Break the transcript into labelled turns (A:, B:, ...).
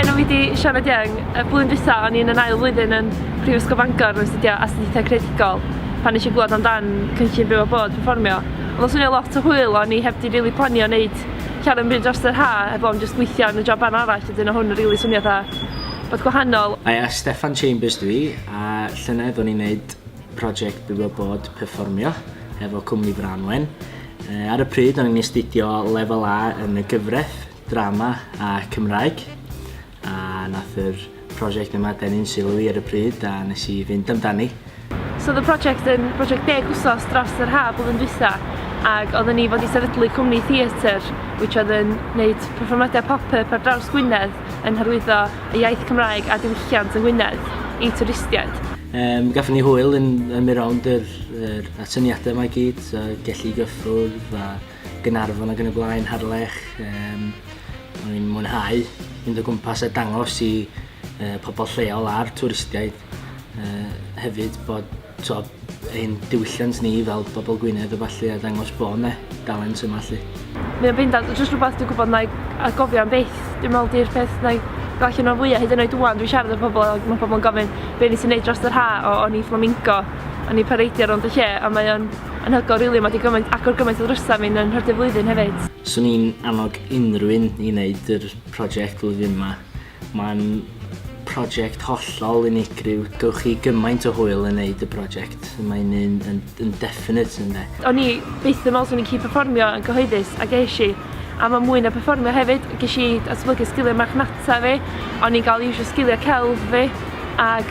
A: Enw fi di Sianed Young. Y blwyddyn dwytha o'n i'n yn ail flwyddyn yn Prifysgol Bangor yn astudio astudiaethau credigol pan eisiau gwybod amdan cynllun byw a bod performio. Ond o'n swnio lot o hwyl o'n i heb di rili planio wneud llawer yn byd dros yr ha heb o'n just gweithio yn y job arno arall a dyn o hwn yn rili swnio dda bod gwahanol. Aia, Steffan
B: Chambers dwi a llynedd o'n i'n neud project Bywio Bod perfformio efo cwmni Branwen. Uh, ar y pryd o'n i'n astudio lefel A yn y gyfraith, drama a Cymraeg. A nath yr prosiect yma denu'n sylw i ar y pryd a nes i fynd amdani. So oedd y prosiect
A: yn prosiect deg wsos dros yr haf oedd yn dwytha ac oedden ni fod i sefydlu cwmni theatr which oedd yn gwneud perfformiadau pop-up ar draws Gwynedd yn hyrwyddo y iaith Cymraeg a diwylliant yng Ngwynedd i twristiaid. Um, gafon ni
B: hwyl yn ymwneud rownd yr, yr atyniadau mae gyd, so gellu gyffwrdd a gynarfon ac yn y blaen, harlech. Um, O'n i'n mwynhau mynd o gwmpas a dangos i uh, pobl lleol a'r twristiaid Yy hefyd bod t'o' ein diwylliant ni fel bobl Gwynedd a ballu a dangos bo' 'ne dalent yma 'lly. Mae o'n bendant yn
A: jyst rhywbeth dwi'n gwybod wna i atgofio am byth. Dwi'n meddwl 'di'r peth wna i ddarllen o'n fwya' hyd yn oed ŵan dwi'n siarad â pobl a ma' pobl yn gofyn be' nes ti neud drost yr ha'? O o'n i fflamingo o'n i pareidio rownd y lle a mae o'n anhygoel rili ma' 'di gymaint agor gymaint o ddrysa' mi'n yn nhrydydd flwyddyn hefyd. Swn i'n annog
B: unrhyw un i neud yr project flwyddyn 'ma. Mae'n project hollol unigryw. Gewch chi gymaint o hwyl yn neud y project. Mae'n un yn, yn definite ynde. O'n i byth yn
A: meddwl swn i'n gallu perfformio yn gyhoeddus, a ges i. A mae mwy na perfformio hefyd, ges i datblygu sgiliau marchnata fi, o'n i'n cael iwsio sgiliau celf fi, ac